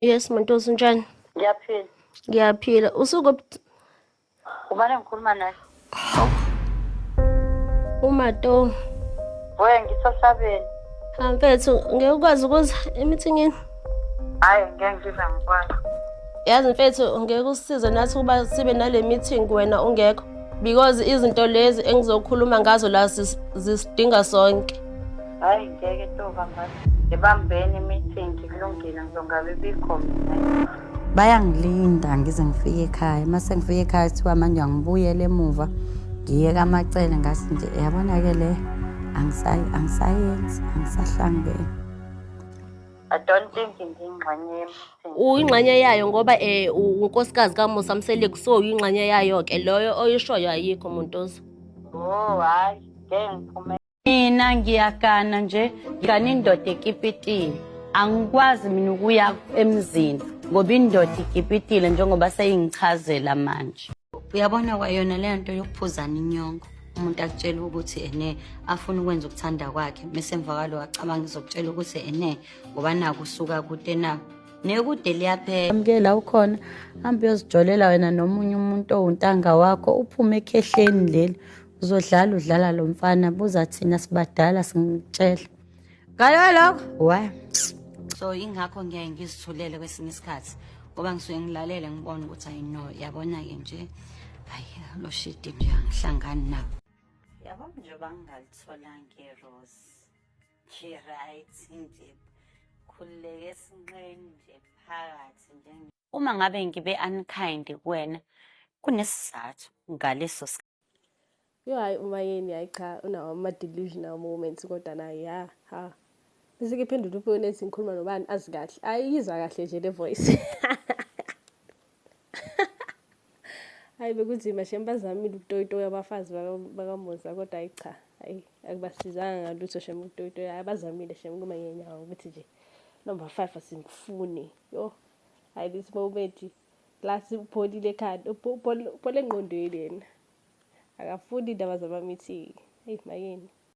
Yes Montosi unjani? Ngiyaphila. Ngiyaphila. Usuku Ubani ngikhuluma naye? Hawu. Umato. We ngisosabeni. Ha mfethu ngeke ukwazi ukuza emithingini? Hayi ngeke ngiza ngikwazi. Yazi mfethu ngeke usisize nathi ukuba sibe nale meeting wena ungekho because izinto lezi engizokhuluma ngazo la zisidinga sonke. hayi ngeke toba ngathi ngibambeni i-meeting kulungile ngizongabe bikho mina bayangilinda ngize ngifike ekhaya uma sengifike ekhaya kuthiwa manje angibuyele emuva ngiye kamacele ngathi nje yabona-ke le angisayenzi angisahlangene I don't think ngiyingxenye yemsebenzi. Uyingxenye yayo ngoba eh unkosikazi kaMusa Mseleku so uyingxenye yayo ke loyo oyishoyo ayikho umuntu ozo. Oh hayi ngeke ngiphume Mina ngiyagana nje ngigana indoda ekipitini angikwazi mina ukuya emzini ngoba indoda ikipitile njengoba seyingichazela manje uyabona kwayona leyo nto yokuphuzana inyongo umuntu akutshela ukuthi ene afuna ukwenza ukuthanda kwakhe mesemva kwalo acabanga izokutshela ukuthi ene ngoba naku usuka kude na nekude liyaphela amukela ukhona hambe uyozijolela wena nomunye umuntu owuntanga wakho uphume ekhehleni leli uzodlala udlala lo mfana buza thina sibadala singitshela ngayo lokho wa so ingakho ngiyaye ngizithulele kwesinye isikhathi ngoba ngisuke ngilalele ngibona ukuthi ayi no yabona-ke nje hayi lo shidi nje angihlangani nabo yabo nje bangalitholanga irose ngi-right nje khululeke esinqeni nje phakathi nje uma ngabe ngibe unkind kuwena kunesizathu ngaleso Yo hayi umayeni hayi cha unawo ama-delusional moments kodwa naye ya ha bese kephendula ufoni ethi ngikhuluma nobani azi kahle ayiyizwa kahle nje le voice hayi bekunzima shem bazamile ukutoyitoya abafazi bakamuza kodwa hayi cha hayi akubasizanga ngalutho shem ukutoyitoya hayi bazamile shem kumanyenyawo ukuthi nje number five asimfuni yo hayi this moment plus upholile ekhanda uphole engqondweni yena akafuni indaba zama-meeting eyi makeni